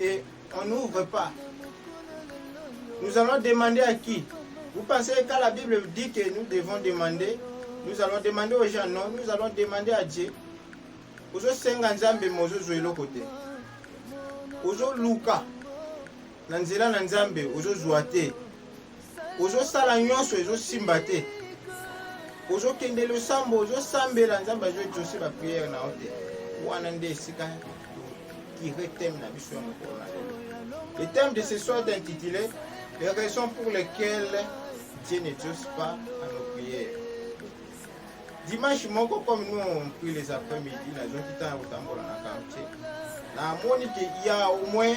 Et on n'ouvre pas. Nous allons demander à qui Vous pensez que quand la Bible dit que nous devons demander, nous allons demander aux gens Non, nous allons demander à Dieu. ozosenga nzambe me ozozwa eloko te ozoluka na nzela na nzambe ozozwa te ozosala nyonso ezosimba te ozokende losambo ozosambela nzambe azoexauce bapriere na yo te wana nde esika tokire teme na biso ya mokolo na lelo le thème de ce soir est intitulé les raisons pour lesquelles dieu ne diose pas à nos prières dimanche moko comme nous on prie les après-midi nazoki ntango kotambola na quartier namoni ke ya au moins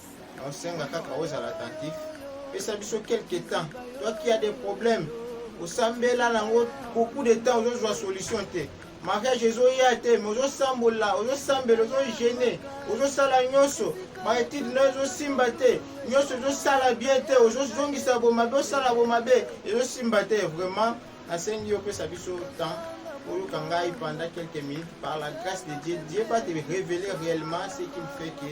Naosenga kaka ozala attentif, pesa biso quelque temps. Toi qui a des problèmes, osambela nango beaucoup de temps ozozwa solution te. Mariage ezoya te, mais ozosambola, ozosambela, ozogene, ozosala nyonso baetide na ezosimba te nyonso ezosala bien te ozozongisa bomabe osala bomabe ezosimba te vraiment nasengi yo opesa biso temps oyoka ngai pendant quelques minutes par la grâce de dieu dieu va te révéler réellement ce qu'il fait que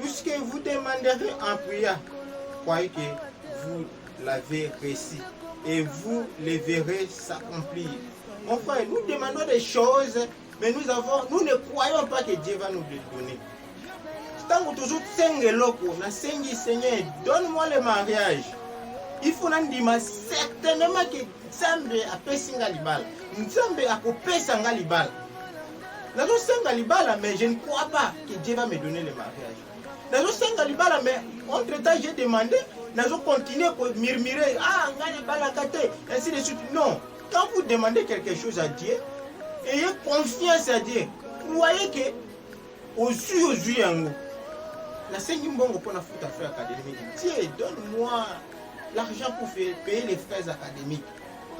Tout ce que vous demanderez en prière, croyez que vous l'avez reçu et vous les verrez s'accomplir. Mon frère, nous demandons des choses, mais nous, avons, nous ne croyons pas que Dieu va nous les donner. ntango toujours senga eloko nasengi seigneur donne moi le mariage il faut nandima certainement ke nzambe apesi nga libala nzambe akopesa nga libala nazosenga libala mais je ne crois pas que Dieu va me donner le mariage nazosenga libala mais entre temps j'ai demandé nazo continuer ko murmurer ah ngai nabalaka te ainsi de suite non quand vous demandez quelque chose à Dieu ayez confiance à Dieu croyez que ozwi ozwi yango nasengi mbongo mpo nafuta frais académique Dieu donne moi l'argent pour payer les frais académiques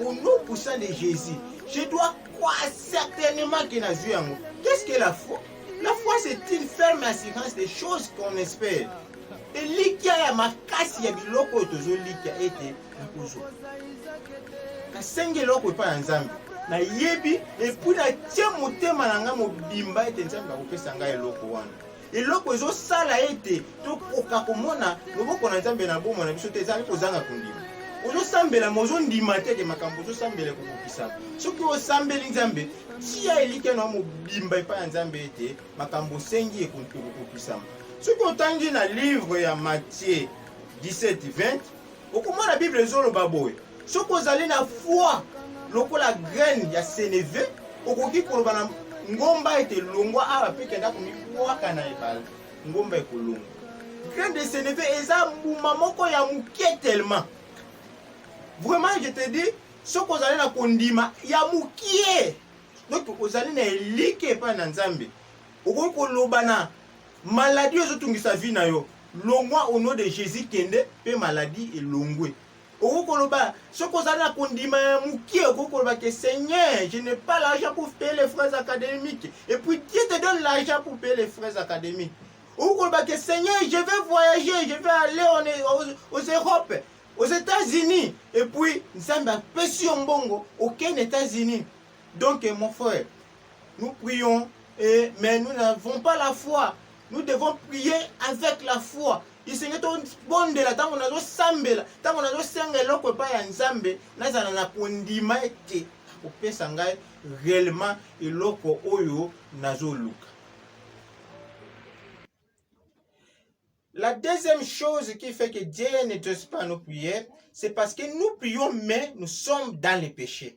Au nom puissant de Jésus, je dois croire certainement que na vie yango. Qu'est-ce que la foi? La foi c'est une ferme assurance des choses qu'on espère. Elikya ya makasi ya biloko oyo tozolikia ete nakozwa. Nasengi eloko epai ya Nzambe. Nayebi epuis natie motema na ngai mobimba ete Nzambe akopesa ngai eloko wana. eloko ezosala ete tokoka komona loboko na nzambe na bomoi na biso te ezali kozanga kondima ozosambela ma ozondima te ke makambo ozosambela ekokokisa soki osambeli nzambe tia elikya na mobimba epai ya nzambe ete makambo osengi ekokokisama soki otangi na livre ya matie 17 20 okomona bible ezoloba boye soki ozali na foi lokola graine ya seneve okoki koloba na ngomba ete longwa awa mpe kenda komibwaka na ebale ngomba ekolongwa graine de seneve eza mbuma moko ya moke tellement vraiment je te dis soki ozali na kondima ya mokie donc ozali na eliki epai na nzambe okoki koloba na Maladie oyo ezotungisa vie na yo longwa au nom de Jésus kende pe maladie elongwe. Okoki koloba soki ozali na kondima ya mokie, okoki koloba ke Seigneur, je n'ai pas l'argent pour payer les frais académiques et puis Dieu te donne l'argent pour payer les frais académiques. Okoki koloba ke Seigneur, je vais voyager, je vais aller en, e, aux, aux Europe, aux États-Unis et puis Nzambe apesi yo mbongo okende États-Unis. Donc, mon frère, nous prions, et, mais nous n'avons pas la foi. Nous devons prier avec la foi. esenge tobondela ntango nazosambela ntango nazosenga eloko epai ya nzambe nazala na kondima ete akopesa ngai réellement eloko oyo nazoluka La deuxième chose qui fait que Dieu ne te pas nos prières, c'est parce que nous prions, mais nous sommes dans les péchés.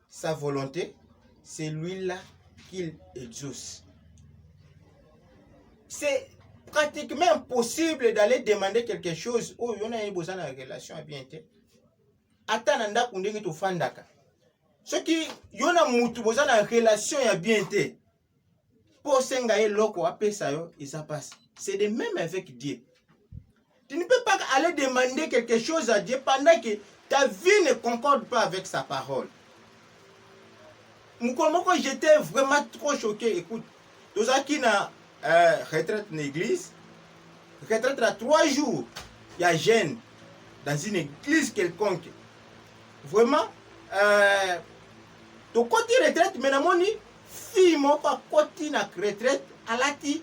sa volonté, c'est lui-là qu'il exauce. C'est pratiquement impossible d'aller demander quelque chose oyo yo naye boza na relation ya bien te ata na ndako ndenge tofandaka soki yo na mutu boza na relation ya bien te mpo osenga ye eloko apesa yo eza mpasi c'est de même avec dieu tu ne peux pas aller demander quelque chose à dieu pendant que ta vie ne concorde pas avec sa parole mokolo moko j'étais vraiment trop choqué écoute tozalaki na euh, retraite na église retraite na trois jours ya jeune dans une église quelconque vraiment euh, tokoti retraite me namoni Fille moko akoti na retraite alati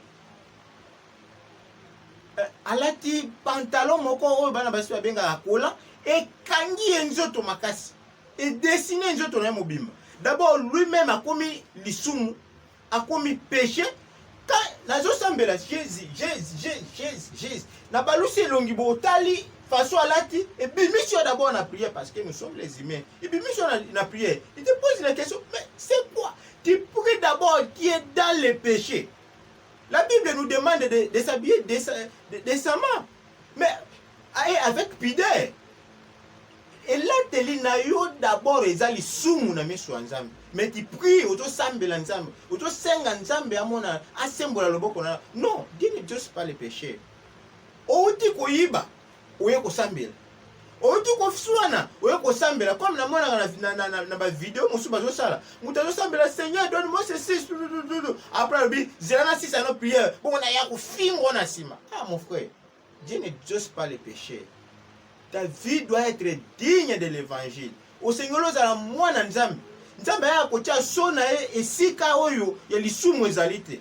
eh, alati pantalon moko oyo bana basi babengaka kola ekangi ye nzoto makasi edesine nzoto na ye mobimba d'abord lui-même akomi lisumu akomi péché nazo sambela jesus jesus jesus jesus na balusi elongi botali façon alati ebimisi yo d'abord na prière parce que nous sommes les humains ebimisi yo na prière il te pose la question mais c'est quoi tu pries d'abord qui est dans le péché la bible nous demande de, de s'habiller décemment mais avec pudeur elateli na yo d'abord eza lisumu na miso ya nzambe mais ti prie ozosambela nzambe ozosenga nzambe amona asembola loboko na non dieu ne jose pas le péché outi koyiba oye kosambela outi koswana oye kosambela comme namonaka na, na, na, na, na bavideo mosusu bazosala moto azosambela seigneur donne moi ceci après alobi zela na sisa no prière bongo naya kofingo na nsima ah mon frère Dieu n'exauce pas les pécheurs. Ta vie doit être digne de l'évangile. Osengeli ozala mwana Nzambe. Nzambe ayaka kotya so na ye esika oyo ya lisumu ezali te.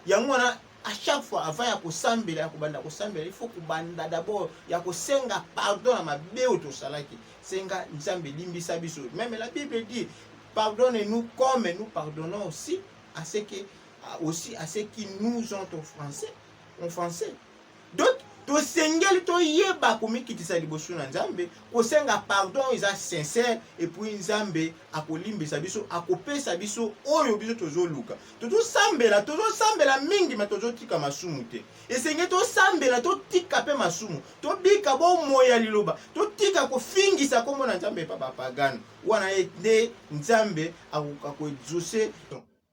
Yango wana à chaque fois avant ya kosambela ya kobanda kosambela il faut kobanda d'abord ya kosenga pardon na mabe oyo tosalaki. Senga Nzambe limbisa biso. Même la Bible dit pardonne-nous comme nous pardonnons aussi à ce que aussi à ceux qui nous ont offensés, offensés. donc tosengeli toyeba komikitisa liboso na nzambe kosenga pardon oyo eza sincere epuis nzambe akolimbisa biso akopesa biso oyo biso tozoluka tozosambela tozosambela mingi ma tozotika masumu te esenge tosambela totika mpe masumu tobika bomoi ya liloba totika kofingisa nkombo na nzambe epa bapagano wana nde nzambe akoka koexauce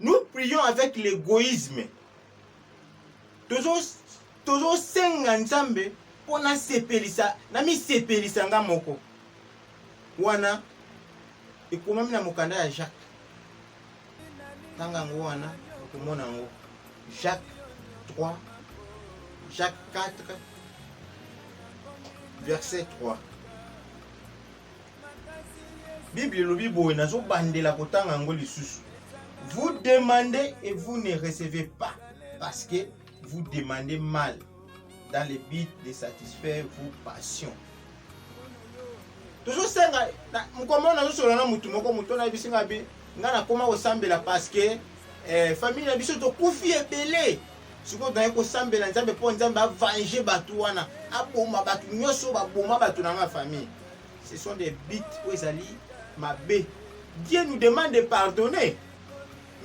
Nous prions avec l'égoïsme. tozosenga nzambe mpo nasepelisa namisepelisa nga moko wana ekomami na mokanda ya jacques tanga yango wana okomona yango jacques 3 jacques 4 verset 3 Bible elobi boye, nazobandela kotanga yango lisusu. Vous demandez et vous ne recevez pas parce que vous demandez mal dans le but de satisfaire vos passions. tozosenga mokoma oyo nazosolola na motu moko motu oyo nayebisi ngai bi ngai nakoma kosambela parceke eh, famille na biso tokufi ebele sikoyo toyai kosambela nzambe mpo nzambe avange bato wana aboma bato nyonso baboma bato na ngai famille ce sont des bits oyo ezali mabe dieu nous demande de pardonner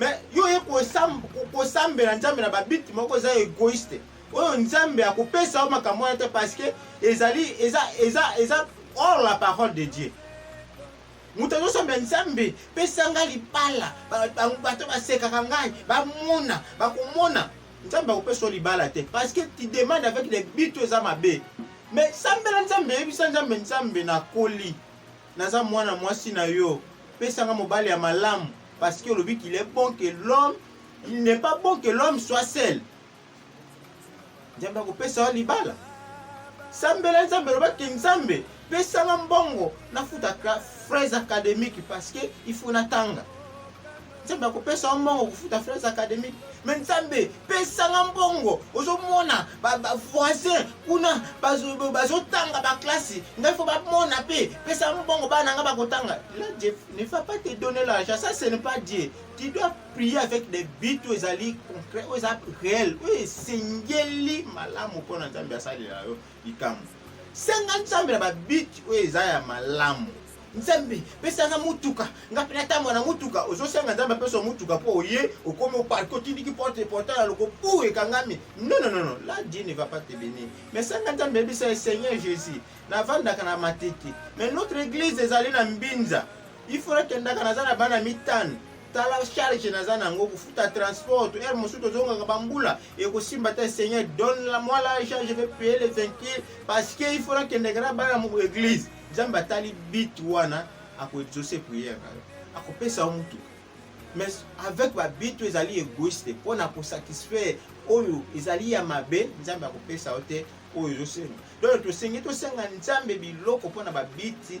mais yo oye kosambela nzambe na babiti moko eza egoïste oyo nzambe akopesa yo makambo wana te parce que ezali eza eza eza hors la parole de dieu moto azosambela nzambe pesa ngai libala bato basekaka ngai bamona bakomona Nzambe akopesa yo libala te parce que tu demandes avec les buts oyo eza mabe mais sambela nzambe yebisa nzambe nzambe nakoli naza mwana mwasi na yo pesanga mobali ya malamu parce que olobi qu'il est bon que l'homme il n'est pas bon que l'homme soit seul nzambe akopesa yo libala sambela nzambe olobaki nzambe pesanga mbongo nafuta fraise académique parce que il faut natanga nzambe akopesa yo mbongo kofuta frais académique me nzambe pesanga mbongo ozomona bavoisin kuna bazotanga baklasi ngai fo bamona mpe pesa mbongo bana ngai bakotanga la dieu ne va pas te donner l'argent ça ce ne pas dieu tu dois prier avec des but oyo ezali concret oyo eza réel oyo esengeli malamu mpo na nzambe asalela yo likambo. Senga Nzambe na babiti oyo eza ya malamu. Nzambe, pesa nga motuka, nga mpe natambwa na motuka. Ozosenga Nzambe apesa motuka mpo oye okomi oparke otindiki porte portail ya loko pou ekangami. Non, non, non, la Dieu ne va pas te bénir. Mais senga Nzambe yebisa ye Seigneur Jésus, navandaka na Matete. Mais notre église ezali na Mbinza. il faut nakendaka naza na bana mitano tala charge naza na yango kofuta transport ere mosusu tozongaka bambula ekosimba te seigneur donne la moi l'argent je vais payer les venkile parce que il faut nakendeke na bana mo église nzambe atali bit wana akoexauce prière na yo akopesa yo motuka mais avec babit oyo ezali égoïste mpo na kosatisfaire oyo ezali ya mabe nzambe akopesa yo te oyo ezosenga donc tosengi tosenga nzambe biloko mpo na babiti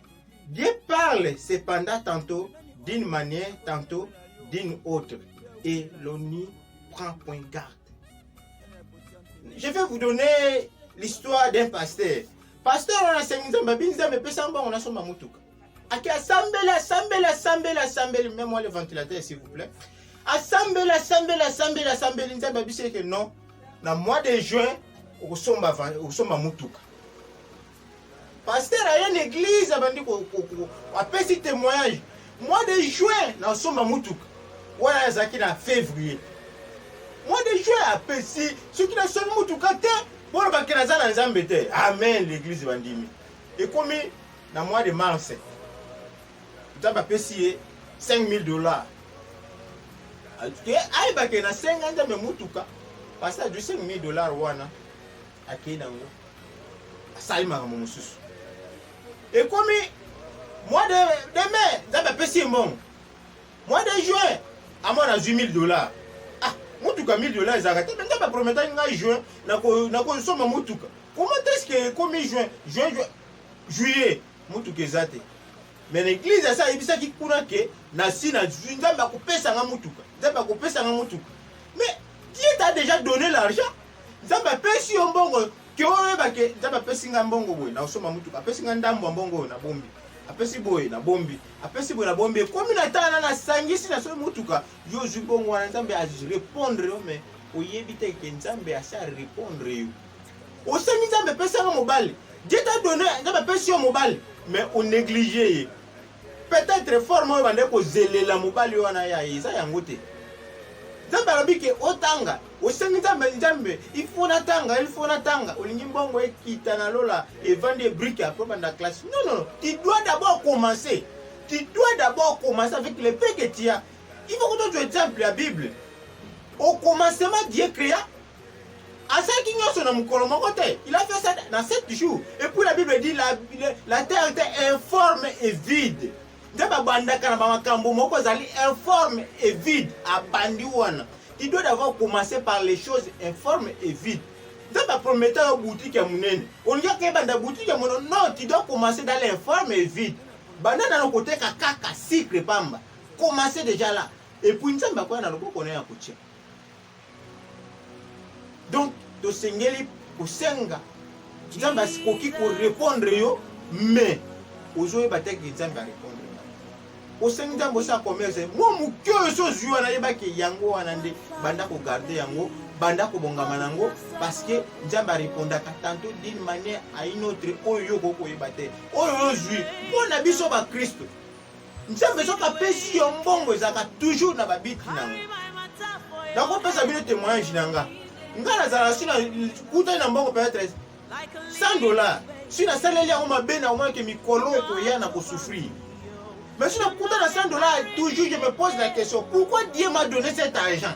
Dieu parle cependant tantôt d'une manière, tantôt d'une autre. Et l'ONU prend point garde. Je vais vous donner l'histoire d'un pasteur. Pasteur on a sengi nzambe abi nzambe pesa mbongo nasomba motuka. Ake asambela asambela asambela asambeli même moi le ventilateur s'il vous plaît. Asambela asambela asambela asambeli nzambe abisi eke non na mois de juin okosomba van- okosomba motuka. Pasteur aye na eglise abandi ko, ko, ko apesi temoignage mois de juin na osomba mutuka wana azalaki na fevrier mois de juin apesi soki nasombi mutuka te boloba ke naza na nzambe te amen l'église bandimi ekomi na mois de mars nzambe apesi ye 5000 dollars ayebake nasenga nzambe mutuka pasteur du 5000 dollars wana akei nango asali makambo mosusu ekomi mois de, de mai nzambe apesi ye mbongo mois de juin amona azwi 1000 dollars ah motuka 1000 dollars ezalaka te nzambe aprometaki ngai juin nakosomba motuka comment est ce que ekomi juin juin juillet motuka eza te Mais na eglise asi ayebisaki kuna ke nasi nazwi nzambe akopesa nga motuka nzambe akopesa nga motuka mais dieu ta déjà donné l'argent nzambe apesi yo mbongo ke oyeba ke nzambe apesi nga mbongo boye nakosomba motuka apesi nga ndambo ya mbongo oyo nabombi apesi boye nabombi apesi boye nabombi ekomi na tala nasangisi na soki motuka yo ozwi bongo wana nzambe arepondre yo mais oyebi te ke nzambe asi arepondre yo osengi nzambe pesanga mobali dieu ta donne nzambe apesi yo mobali mais onéglige ye peut-être forme oyo bandaki kozelela mobali wana ya ye eza yango te nzambe alobi ke otanga osengi nzambe nzambe ifo natanga ilfo natanga olingi mbongo ekita na lola evandi ebrike apres banda classe non non tu dois d'abord commencer tu dois d'abord commencer avec le peu que tu as il faut que tu exemple ya bible au commencement dieu créa Asalaki nyonso na mokolo moko te. Il a fait ça dans sept jours. Et puis la Bible dit la, la terre était informe et vide. Nzambe abandaka na makambo moko ezali informe et vide. Abandi wana. Tu dois d'abord commencer par les choses informes et vides. Nzambe aprometa yo boutique ya monene. Olingi akebanda boutique ya monene. Non, tu dois commencer dans l'informe et vide. Banda nano koteka kaka sucre pamba. Commencer déjà là. Et puis Nzambe akoya na loboko na ya kotia. donc tosengeli kosenga nzambe akoki korepondre yo mais ozoyeba te ke nzambe arepondre osengi nzambe osala commerce mwa moke oyo so ozwi wana yebaki yango wana nde banda kogarde yango banda kobongama na yango parceke nzambe arepondaka tanto d'une manière à une autre oyo yo okoki koyeba te oyo ozwi mpo na biso bakristo nzambe soki apesi yo mbongo ezalaka toujours na babiti na yango nakopesa bino témoignage na nga nga nazala si nakutani na mbongo peut-être 100 dollars si nasaleli yango mabe na omonake mikolo ekoya na kosouffrir mais si nakuta na 100 dollars toujours je me pose la question pourquoi dieu m'a donné cet argent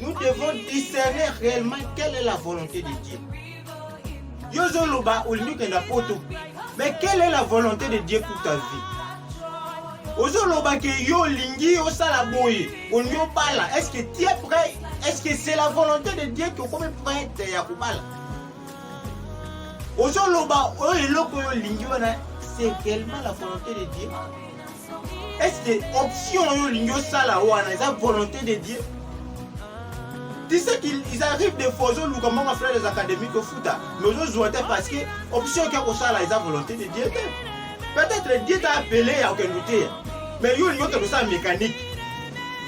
nous devons discerner réellement quelle est la volonté de Dieu. Yo zoloba olingi kenda poto. Mais quelle est la volonté de Dieu pour ta vie? Ozoloba que yo lingi yo sala boye, olingi obala. Est-ce que tu es prêt? Est-ce que c'est la volonté de Dieu que okomi prête ya kobala? Ozoloba oyo eloko yo lingi wana c'est réellement la volonté de Dieu. Est-ce que option oyo olingi osala wana eza volonté de Dieu? Tu sais qu'ils arrivent des fois ozoluka moko frère des académies tofuta mais ozozwa te parce que option okia kosala eza volonté de Dieu te. Peut-être Dieu t'a appelé ya okende oteya mais yo olingi okende osala mécanique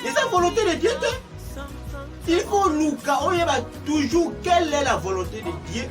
eza volonté de Dieu te. Il faut luka oyeba toujours quelle est la volonté de Dieu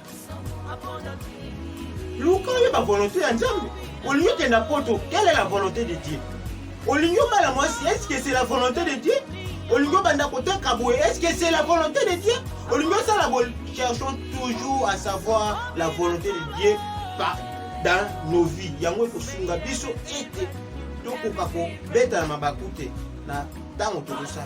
luka oyeba volonté ya nzambe olingi okenda poto quelle est la volonté de dieu olingi obala mwasi est ce que c'est la volonté de dieu olingi obanda koteka boye est ce que c'est la volonté de dieu olingi osala boye cherchons toujours à savoir la volonté de dieu par dans nos vies yango ekosunga biso ete tokoka kobeta na mabaku te na ntango tokosala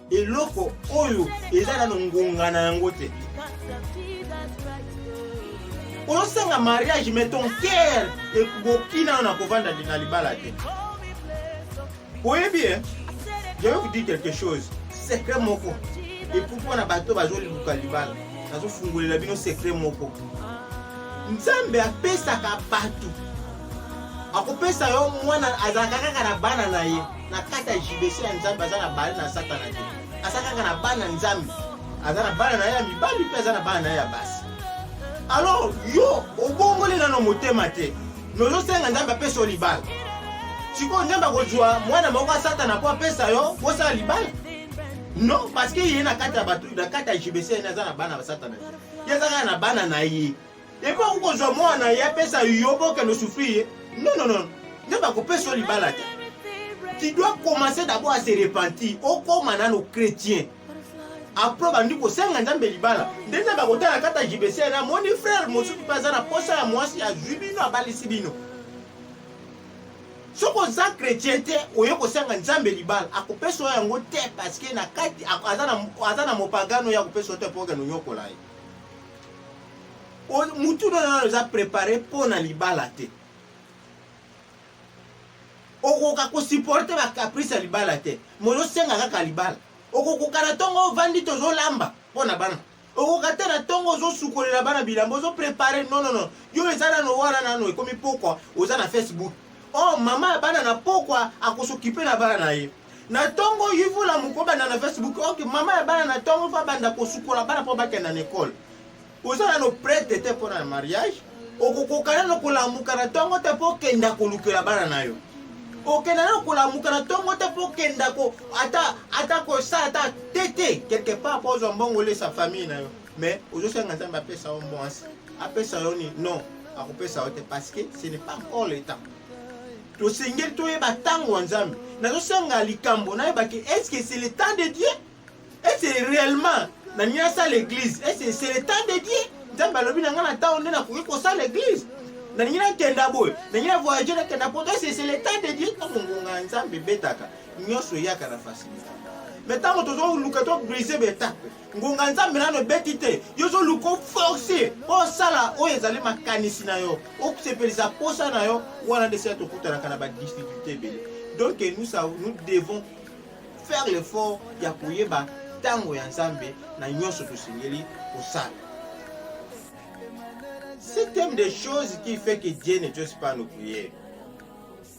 eloko oyo eza nano ngonga na yango te ozosanga mariage mais ton cœur ekoki nano na kovanda na libala te oyebi e je vais vous dire quelque chose secret moko epuis mpo na bato bazoluka libala nazofungolela bino secret moko nzambe apesaka bato akopesa yo mwana azalaka kaka na bana na ye na kati ya judece ya nzambe aza na bale na satana te aza kaka na bana nzambe aza na bana na ye ya mibali mpe aza na bana na ye ya basi alors yo obongoli nano motema te nozosenga nzambe apesa yo libala sikoyo nzambe akozwa mwana moko ya satana mpo apesa yo bosala libala non parce que ye na kati ya bato na kati ya jbc aza na bana ya satana ye aza kaka na bana na ye epo akoki kozwa mwana na ye apesa yo mpo okende osufri ye non non non nde bakopesa yo libala te tu dois commencer d'abord à se repentir okoma nano chrétien apres bandi kosenga nzambe libala nde nzambe akotala kata jibese na moni frère mosusu mpe aza na posa ya mwasi azwi bino abalisi bino soki oza chrétien te oye kosenga nzambe libala akopesa yo yango te parceke na kati aza na mopagano ya kopesa yo te mpo okende onyokola ye mutu na nano eza prepare mpo na libala te okoka kosupporte bacaprice ya libala te mozosenga kaka libala okokoka na ntongo ovandi tozolamba mpo na bana okoka te na ntongo ozosukolela bana bilamba ozoprepare nonono yo eza nano wana nano ekomi pokwa oza na facebook o oh, mama ya bana na pokwa akosokipe na bana na ye na ntongo yvula mokobanda na facebook ok mama ya bana na ntongo mpo abanda kosukola bana mpo bakenda na ekole oza nano prete te mpo na mariage okokoka nano kolamuka na ntongo te mpo okenda kolukela bana na yo okenda nano kolamuka na ntongo te mpo okenda ko ata ata kosala ata te te quelque part mpo ozwa mbongo olesa famille na yo mais ozosenga nzambe apesa yo mwasi apesa yo nini non akopesa yo te parce que ce n'est pas encore le temps tosengeli toyeba ntango ya nzambe nazosanga likambo nayebaki est-ce que c'est le temps de dieu est-ce que réellement na nini asala église est-ce que c'est le temps de dieu nzambe alobi na ngai na ntango nde nakoki kosala église nalingi nakenda boye nalingi na voyage nakenda poto est-ce que c'est le temps de dieu ntango ngonga ya nzambe ebetaka nyonso eyaka na facilité me ntango tozoluka to brise betape ngonga nzambe nano ebeti te yo ozoluka oforce mpo osala oyo ezali makanisi na yo osepelisa mposa na yo wana nde sila tokutanaka na badifficulté ebele donc nous, nous devons faire l'effort ya koyeba ntango ya nzambe na nyonso tosengeli kosala c'est thème des choses qui fait que dieu ne jose pas nos prières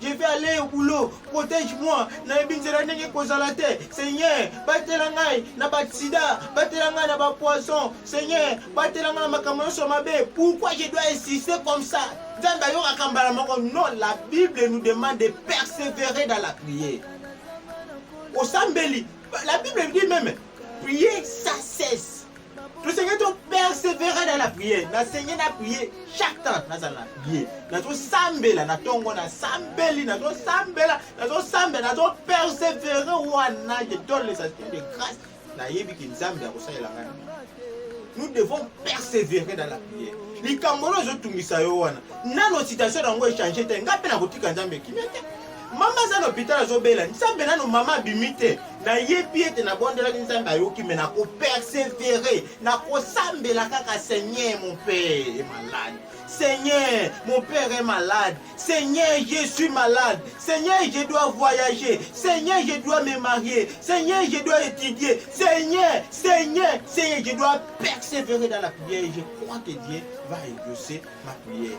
Je vais aller au boulot, protège-moi, nayebi nzela ndenge ekozala te. Seigneur, batela ngai na basida, batela ngai na bapoison. Seigneur, batela ngai na makambo nyonso mabe. Pourquoi je dois insister comme ça? Nzambe ayokaka mbala moko. Non, la Bible nous demande de persévérer dans la prière. Osambeli, la Bible dit même, prier sans cesse. tosengeli to persevere na la priere nasengi na priere chaque temps nazala na priere nazosambela na ntongo nasambeli nazosambela nazosambela nazopersevere wana je donne les aspirants de grâce nayebi ke nzambe akosalela ngai nous devons persévérer dans la prière likambo oyo ezotungisa yo wana nano situation na yango echange te ngai mpe nakotika nzambe kimia te Mama aza na hopital azobela nzambe nano mama abimi te nayebi ete nabondelaki nzambe ayoki me nakopersevere nakosambela kaka seigneur mon père est malade seigneur mon père est malade seigneur je suis malade seigneur je dois voyager seigneur je dois me marier seigneur je dois étudier seigneur seigneur seigneur je dois persévérer dans la prière et je crois que dieu va exaucer ma prière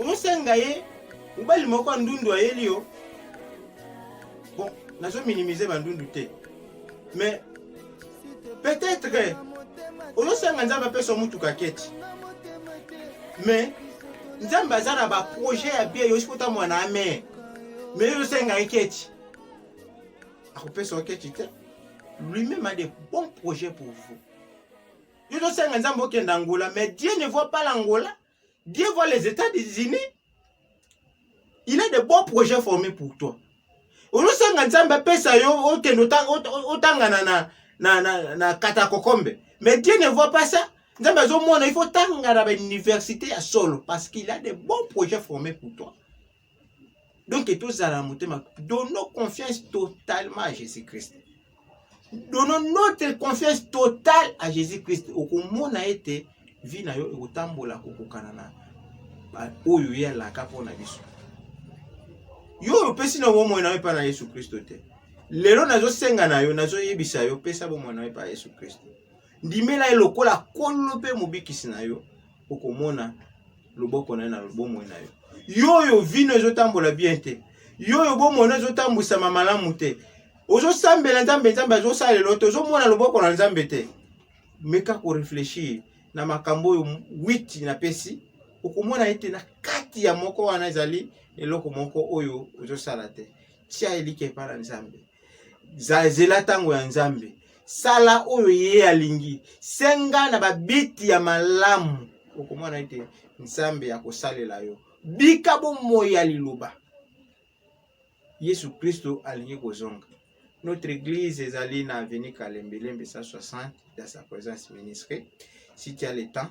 omosenga ye mobali moko ya ndundu ayeli yo bon nazo minimize bandundu te mais peut-être ozosenga nzambe apesa motuka keti mais nzambe aza na baprojet ya bie yosi kota mwana ame mais ozosenga ye keti akopesa yo keti te lui-même a des bons projets pour vous yo tosenga nzambe okenda angola mais dieu ne voit pas l'angola Dieu voit les états des unis il a de bons projets formés pour toi olosanga nzambe apesa yo okende otangana na, na, na, na katakokombe mais dieu ne voit pas ça nzambe azomona il faut otangana bauniversité ya solo parce qu'il a de bons projets formés pour toi donc tozala na motema donnons confiance totalement à jésus christ donnons notre confiance totale à jésus christ okomona ete vi na yo ekotambola kokokana na oyo ye alaka mpo na biso yo oyo opesi na bomoi na yo epai na yesu kristo te lelo nazosenga na yo nazoyebisa yo pesa bomoi na yo epai ya yesu kristo ndimela ye lokola nkolo mpe mobikisi na yo okomona loboko na ye na bomoi na yo yo oyo vino ezotambola bien te yo oyo bomoi na ezotambwisama malamu te ozosambela nzambe nzambe azosalela te ozomona loboko na nzambe te meka koreflechir na makambo oyo witi napesi okomona ete na kati ya moko wana ezali eloko moko oyo ozosala te tia elika epai na nzambe zela ntango ya nzambe sala oyo ye alingi senga na babiti ya malamu okomona ete nzambe ya kosalela yo bika bomoi ya liloba yesu kristo alingi kozonga notre église ezali na avenue kalembelembe 160 dans sa présence ministre si tu as le temps